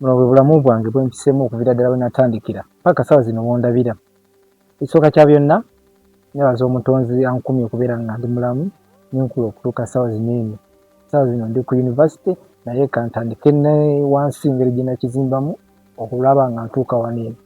Buno bwe bulamu bwange bwe mpisemu okuviira ddala we natandikira paka sawa zino wondabira. Ekisooka kya byonna nebaza omutonzi ankumye okubeera nga ndi mulamu nenkula okutuuka sawa zino eno. Sawa zino ndi ku university naye kantandike ne wansi engeri gye nakizimbamu okulaba nga ntuuka wano eno.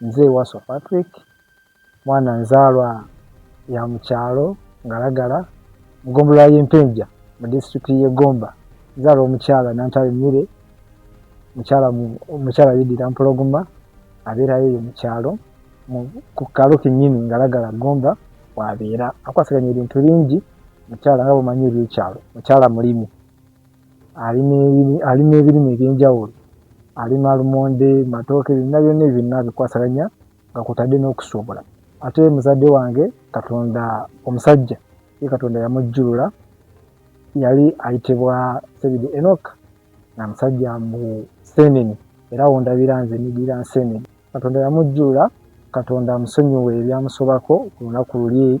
Nze Wasswa Patrick, mwana nzaalwa ya mu kyalo Ngalagala mu ggombolola y'e Mpenja mu disitulikiti y'e Gomba. Nzaalwa omukyala Nantale Milly, mukyala mukyala yeddira Mpologoma, abeerayo eyo mu kyalo ku kalo kennyini Ngalagala Gomba w'abeera. Akwasaganya ebintu bingi mukyala nga bw'omanyi eby'ekyalo. Mukyala mulimi. alima ebirime ebyenjawulo alima lumonde matooke byonna byonna ebyo nabikwasalanya nga kutadde n'okusuubula ate muzadde wange katonda omusajja ye katonda yamujjulula yali ayitibwa sebide enok nga musajja mu senene era wondabira nze nidira nsenene katonda yamujjulula katonda amusonyiwe ebyamusobako ku lunaku luli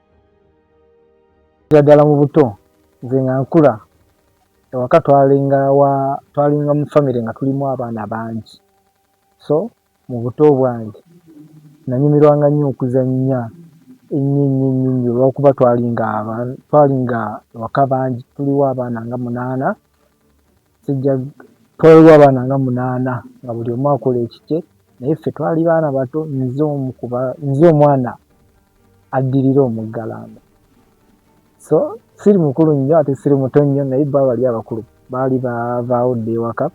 ddala mu buto nze nga nkula ewaka twalinga wa twalinga mu famire nga tulimu abaana bangi so mu buto bwange nanyumirwanga nnyo okuzannya ennyo ennyo ennyo nnyo olwokuba twalinga twalinga ewaka bangi tuliwo abaana nga munaana Sijja twawebwa abaana nga munaana nga buli omu akola ekikye naye ffe twali baana bato nze omu kuba nze omwana addirira omuggalanda so siri mukulu nnyo ate siri muto nnyo naye bba bali abakulu baali bavaawo dda ewaka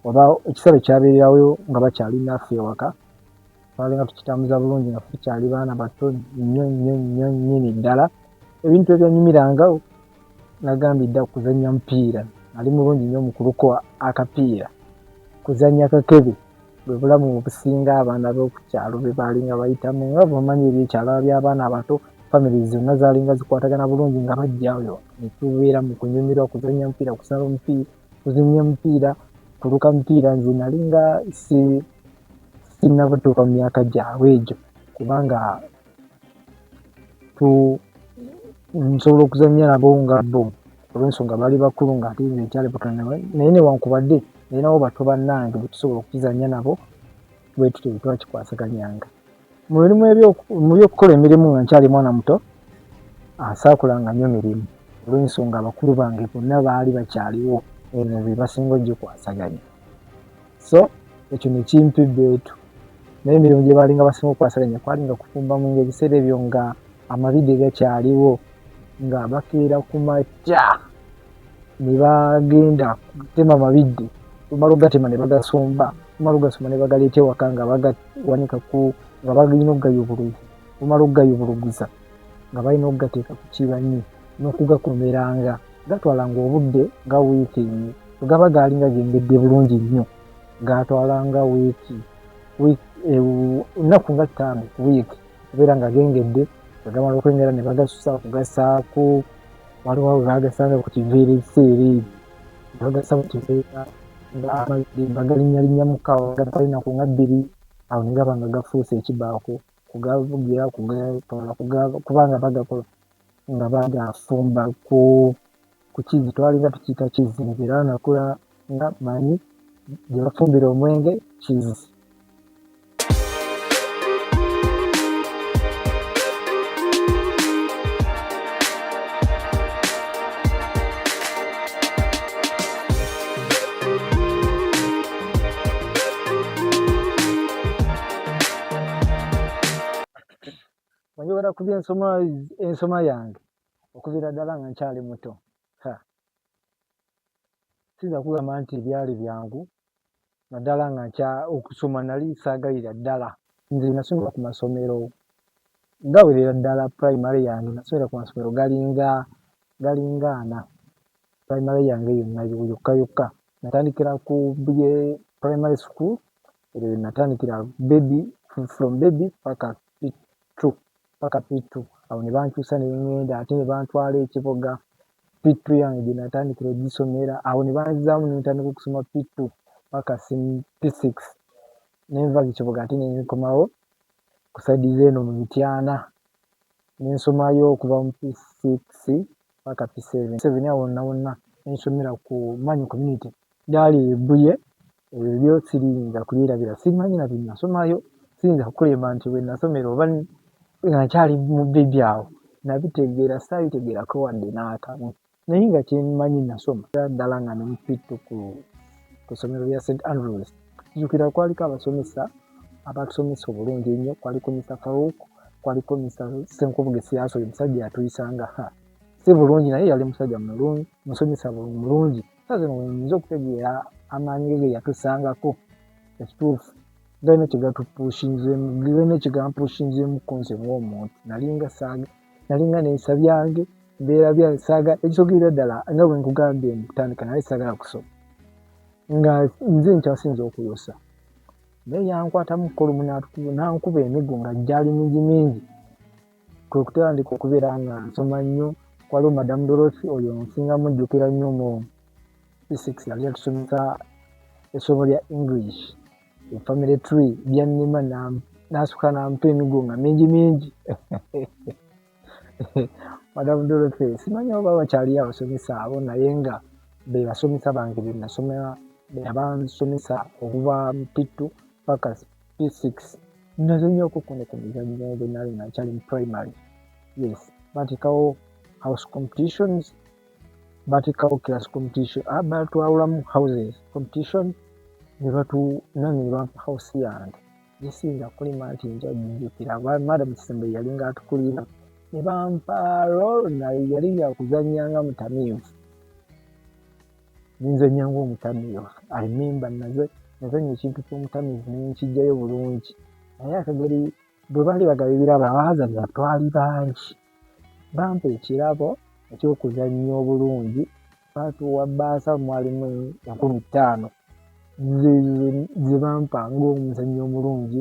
oba ekisale kyabeererawo nga bakyali naffe ewaka twalinga tukitambuza bulungi nga tukyali baana bato nnyo nnyo nnyo nnyini ddala ebintu ebyanyumiranga nagambye dda kuzannya mupiira ali mulungi nnyo mu kuluko akapiira kuzannya kakebe bwe bulamu obusinga abaana b'okukyalo be baalinga bayitamu nga bomanyi ebyekyalo by'abaana abato famire zonna zaalinga zikwatagana bulungi nga bajjayo ne tubeera mu kunyumirwa kuzannya mupiira kusala omupiira kuzinya mupiira kuluka mupiira nze nali nga si sinnabatuuka mu myaka gyabwe egyo kubanga tu nsobola okuzannya nabo nga bo olwensonga bali bakulu nga ate nze nkyali butona naye newankubadde nalinawo bato bannange betusobola okukizannya nabo bwetutyo bwe twakikwasaganyanga mu mirimu mu by'okukola emirimu nga nkyali mwana muto ansaakulanga nnyo mirimu olw'ensonga abakulu bange bonna baali bakyaliwo eno be basinga ogikwasaganya so ekyo ne kimpi beetu naye emirimu gye baalinga basinga okukwasaganya kwalinga kufumba mu nga ebiseera ebyo nga amabide gakyaliwo nga bakeera ku makya ne bagenda kutema mabidde omala ogatema ne bagasomba omala ogasoma ne bagaleeta ewaka nga bagata wanika ku nga balina okugayubuluza bumala okugayubuluguza nga balina okugateeka ku kibanyi n'okugakomeranga gatwalanga obudde nga wiiki emu wegaba gaalinga gengedde bulungi nnyo gaatwalanga wiiki ennaku nga ttaano ku wiiki okubeera nga gengedde wegamala okwengera ne bagasusa okugasaako waliwo we baagasanga ku kiviiri seeri bagasa bukiseera nga amazzi bagalinnyalinnya mu kaawa gatali naku nga bbiri awo ne gaba nga gafuuse ekibaako kugavugira kugatoola kubanga bagakola nga bagafumba ku ku kizzi twalinga tukiyita kizzi nti era nakula nga manyi gye bafumbira omwenge kizzi njogera ku byensoma ensoma yange okuviira ddala nga nkyali muto siyinza kugamba nti byali byangu naddala nga nkya okusoma nali saagalira ddala nze nasomera ku masomero gawerera ddala primary yange nasomera ku masomero galinga galinga ana primary yange yonna yokka yokka natandikira ku bye primary school eryo natandikira baby from baby paka p2 paka p2 awo ne bankyusa ne ŋŋenda ate ne bantwala ekiboga P2 yange gye natandikira ogisoma era awo ne banzizaamu ne ntandika okusoma P2 paka P6 ne nva Kiboga ate ne nkomawo ku sayidi z'eno mu Mityana ne nsomayo okuva mu P6 paka P7 awo wonna wonna ne nsomera ku Manyi Community. Gyali e Bbuye Ebyo byo siriyinza kubyerabira, simanyi na bye nasomayo, siyinza kukulemba nti we nasomera oba nga nkyali mu bbebi awo nabitegeera, saabitegeerako wadde n'akamu naye nga kye mmanyi nasoma ddala nga ne mu pittu ku ku ssomero lya St Andrews. Nzijukira kwaliko abasomesa abatusomesa obulungi ennyo, kwaliko Mr Farouk, kwaliko Mr Senkubuge Siyaso, oyo musajja yatuyisanga ha si bulungi naye yali musajja mulungi, musomesa mulungi. so zino wenyinza okutegeera amaanyi ge geyatusangako ekituufu galina kyegatupushinzemu galina kyegampushinzemu kunze ng'omuntu nalinga saaga nalinga nensa byange mbeera bya saaga ekisogerera ddala nga bwe nkugambye mu kutandika naye saagala kusoma nga nze nkyasinza okuyosa naye yankwatamu kolumu nankuba emigo nga gyali mingi mingi kwe kutandika okubeera nga nsoma nnyo waliwo madamu dolosi oyo nsinga mujjukira nnyo mu physic yali atusomesa essomo lya english efamily tree byannima nasuka nampa emigo nga mingi mingi madamu dolosi simanyi oba bakyali abasomesa abo naye nga bebasomesa bange benasomera beyabansomesa okuva mupittu pakas p6 naze nnyo okukuno ku mizannyo bwe nali nga nkyali mu primary yes batekawo house competitions batekawo class competition ah, batwawulamu houses competition ne batunange ne bampa house yange gisinza kulima nti njajijukira madam kisembe yalinga atukulira ne bampa rol naye yali yakuzannya nga mutamiivu ninzenya ngaomutamiyo i remember naze nazenya ekintu kyomutamiyo nenkijjayo bulungi naye akageri bwe baali bagaba ebirabo abaazanya twali bangi bampa ekirabo ekyokuzannya obulungi baatuwa baasa mwalimu enkumi ttaano ze bampa ngaomuzannyi omulungi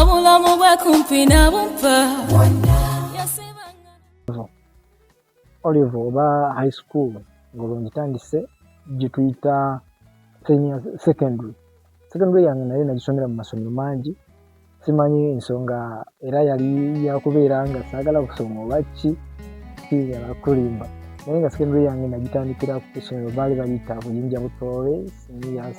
obulamu bwe kumpi nabumpa olive oba high school ngolwo ngitandise gyetuyita senior secondary secondary yange naye nagisomera mu masomero mangi simanyi ensonga era yali yakubeera nga saagala kusoma obakki kiyala kulimba naye nga secondary yange nagitandikira ku kusomero baali bayita buyinja butoole seniors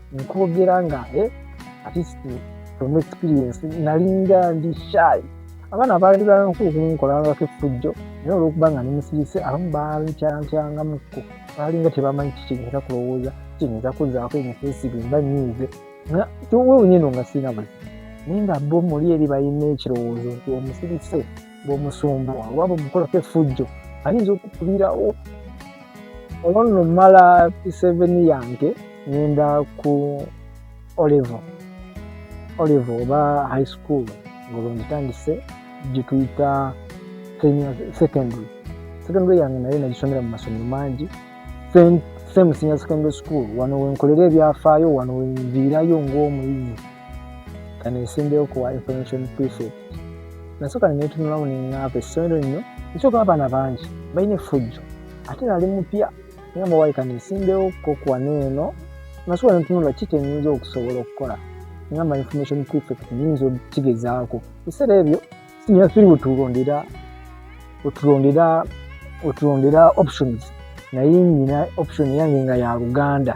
nkwogera nga eh, atist from experience nalinga ndi shayi abaana baali bankulukunkolangako effujjo naye olwokuba nga nemusirise abamu baalikyantyangamuko baalinga tebamanyi kikinyinza kulowooza kinyinza kuzaako emifeesi bemba nyiize nga kyowewunyeno nga sirina buzi naye nga bo muli eri balina ekirowoozo nti omusirise bwomusumba waba omukolako efujjo ayinza okukubirawo olwo nno mala p7 yange ngenda ku olive olive oba high school ngolwo ngitandise gyetuyita secondary secondary yange naye nagisomera mu masomero mangi same senior secondary school wano wenkolera ebyafaayo wano wenviirayo ngaomuyizi kanesimbewo kuwa information prefect nasooka nenetunulamu neŋaava essomero lino ekyoka abaana bangi balina efujjo ate nali mupya ngamba wali kanesimbewo kokuwa neeno nasooka netunula ki kyenyinza okusobola okukola ngamba information prefect nyinza okigezaako ebiseera ebyo sinya firi wetulondera wetulondera wetulondera options naye nyina option yange nga ya luganda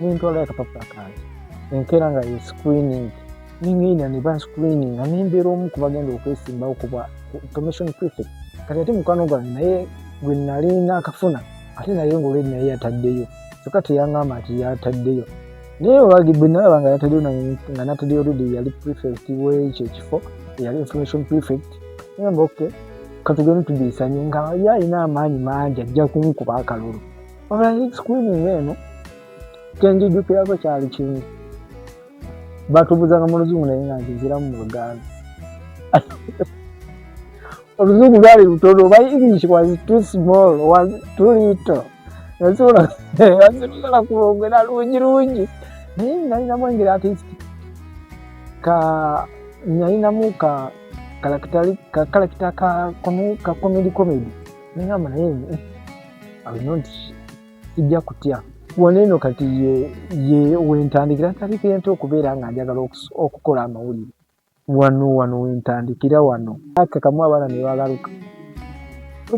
nentwala akapapula kange enkeera nga ye screening nengenda ne ba screening nga nembeera omu ku bagenda okwesimbawo kuba information prefect kati ate mukwano gwange naye gwe nali nakafuna ate naye ngaoledi naye yataddeyo kyokka teyangamba nti yataddeyo naye olwagi bwe nalaba nga yataddeyo nga nataddeyo oledi yali prefect wekyo ekifo eyali information prefect namba oke katugende tubiisanye nga yalina amaanyi mangi ajja kunkuba akalulu olwahit sikuini ng'eno kyenjijukirako kyali kimu batubuzanga mu luzungu naye nga nkiziramu mu luganda oluzungu lwali lutono oba english was too small was too little nasobola nasobola kulwongera lungi lungi naye nalinamu engeri atist ka nalinamu ka kalakita ka kalakita ka komedi komedi nengamba naye alina nti sijja kutya wano eno kati ye wentandikira ntandikira nti okubeera nga njagala okukola amawulire wano wano wentandikira wano akakamu abaana nebagaluka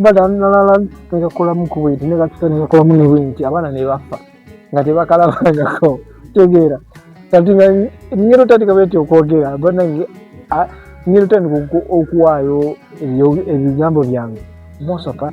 badanalala negakolamu kubwenti negakita negakolamu nebwenti abaana nebafa nga tebakalabangako tegeera kati nga ngeri otandika bwenti okwogera banange ngeri otandika okuwaayo ebigambo byange most of our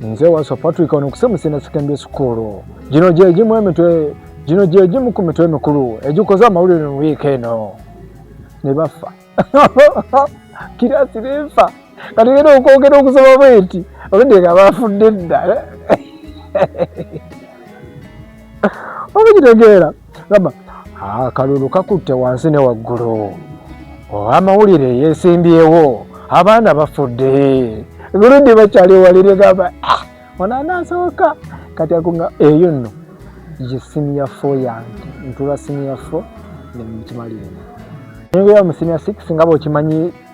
nze waso patrick ono kusemusina secondary school gino gyegimu emitwe gino gyegimu ku mitwe emikulu egikoze amawulire mu wiiki eno ne baffa kirasi nefa kati era okwogera okusoma bweti obudde nga bafudde dda eh? obukitegeera gamba akalulu kakutte wansi ne waggulu amawulire yesimbyewo abaana bafudde guludi bakyali walire gamba ah, onanasoboka kati akunga eyo nno ye siniya fo yange ntula siniya fo nemukimaliremu nengeya mu siniya six nga bwekimanyi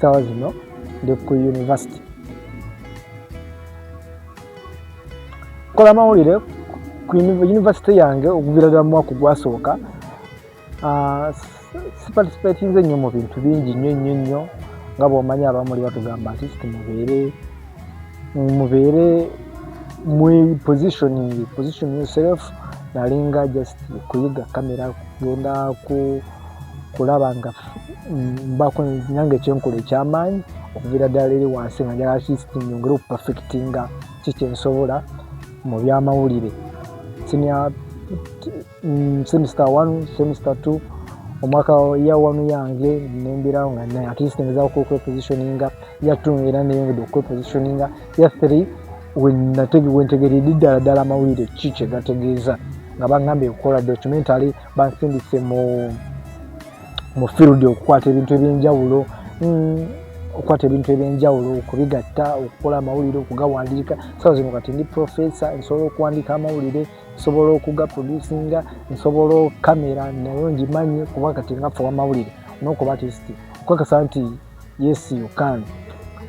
sawa zino ndi ku university nkola mawulire ku university yange okuvira ddala mu mwaka ogwasooka ah, siparticipatinze nnyo mu bintu bingi nnyo nnyo nnyo nga bwomanyi abamuli batugamba nti kiti mubeere mubeere mu positioning position yourself nalinga just kuyiga kamera kugenda ku kulaba nga mbako nange kyenkola ekyamaanyi okuviira ddala eri wansi nga njagala kisti nyongere okupafekitinga ki kyensobola mu byamawulire sinia mm, semester one semester two omwaka ya wanu yange nembirawo nga naye atleast ngezaku okwepositioninga ya two era neyongedde okwepositioninga ya three wentegeredde ddala ddala amawulire ki kyegategeeza nga bagambye okukola documentary bansindise mu mu field okukwata ebintu ebyenjawulo mm, okukwata ebintu ebyenjawulo okubigatta okukola amawulire okugawandiika sawa zino kati ndi professor nsobola okuwandiika amawulire nsobola okugaproducinga nsobola okamera nayo ngimanyi kuba kati ngafa wamawulire nokuba tisti okukakasa nti yes you can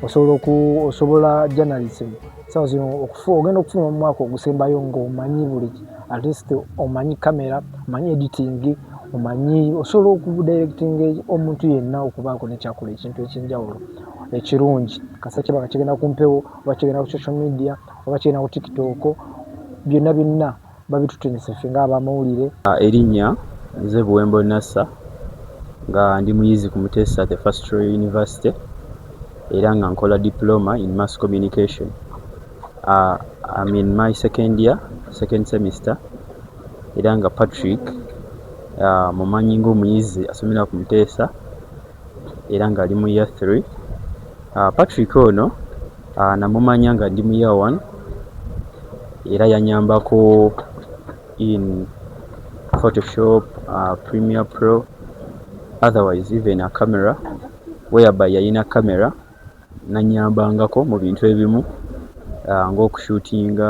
osobola oku osobola journalism sawa zino okufu ogenda okufuna omwaka ogusembayo nga omanyi buli at least omanyi camera omanyi editing omanyi osobola okudirecting omuntu yenna okubaako nekyakola ekintu ekyenjawulo ekirungi kasa kiba nga kigenda ku mpewo oba kigenda ku social media oba kigenda ku tiktok byonna byonna babitutenese ffe nga abamawulire. Erinnya nze Buwembo Nasser nga ndi muyizi ku Muteesa The First Royal University era nga nkola Diploma in Mass Communication. Am in my second year, second semester, era nga Patrick mumanyi ng'omuyizi asomera ku Muteesa. era nga ali mu year three. Aah Patrick ono aah namumanya nga ndi mu year one era yanyambako in photoshop, premier pro otherwise even a camera where by yalina camera. Nannyambangako mu bintu ebimu ng'okushuutinga,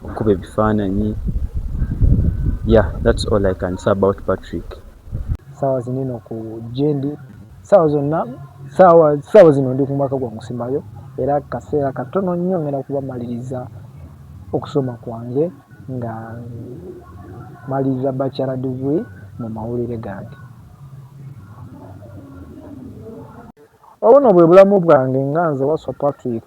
okukuba ebifaananyi, yeah that's all I can say about Patrick. Ssaawa zino eno ku gye ndi, ssaawa zonna, ssaawa, ssaawa zino ndi ku mwaka gwa Musimayo era kaseera katono nnyo ngenda kuba mmaliriza okusoma kwange nga mmaliriza Bachelor degree mu mawulire gange. Obuno bwe bulamu bwange nga nze Wasswa Patrick.